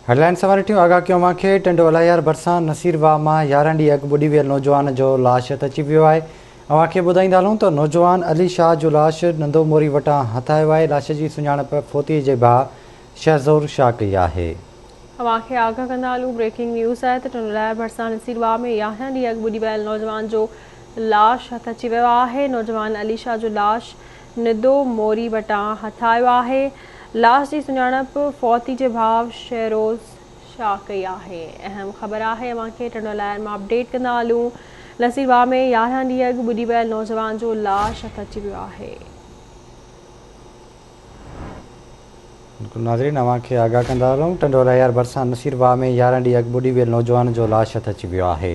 Headline سواريٺيون آگاهه ڪيو اوهان کي، ٽنڊو الاهيار ڀرسان نصير واهه مان يارهن ڏينهن اڳ ٻڏي ويل نوجوان جو لاش هٿ اچي ويو آهي. اوهان کي ٻڌائيندا هلون ته نوجوان علي شاهه جو لاش نندو موري وٽان هٿ آيو آهي. لاش جي سڃاڻپ فوتي جي ڀاء شهزور شاهه ڪئي آهي. اوهان کي آگاهه ڪندا هلون بريڪنگ نيوز آهي ته ٽنڊو الاهيار ڀرسان نصير واهه ۾ يارهن ڏينهن اڳ ٻڏي ويل نوجوان جو لاش هٿ اچي ويو آهي. نوجوان علي شاهه جو لاش ندو موري وٽان هٿايو آهي. لاش جي سڃاڻپ فوتي جي ڀاء شهروز شاهه ڪئي آهي. اهم خبر آهي اوهان کي ٽنڊو لائر مان اپڊيٽ ڪندا هلون. نصيرباغ ۾ يارهن ڏينهن اڳ ٻڏي ويل نوجوان جو لاش هٿ اچي ويو آهي. بلڪل ناظرين اوهان کي آگاهه ڪندا هلون ٽنڊو لهيار ڀرسان نصيرباغ ۾ يارهن ڏينهن اڳ ٻڏي ويل نوجوان جو لاش هٿ اچي ويو آهي.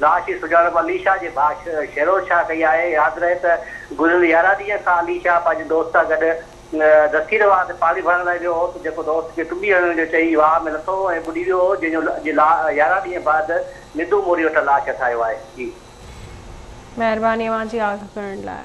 لاش جي سڃاڻپ علي شاهه جي ڀاء شيروز شاهه ڪئي آهي. ياد رهي ته گذريل يارهن ڏينهن کان علي شاهه پنهنجي دوست سان گڏ دستير واهه تي پاڻي ڀرڻ لاء ويو هو ته جيڪو دوست کي ٽٻي هڻڻ جو چئي واهه ۾ لٿو هو ۽ ٻڏي ويو هو جنهن جو اڄ يارهن ڏينهن بعد ندو موري وٽان لاش هٿ آيو آهي. مهرباني اوهان جي آگهه ڪرڻ لاء.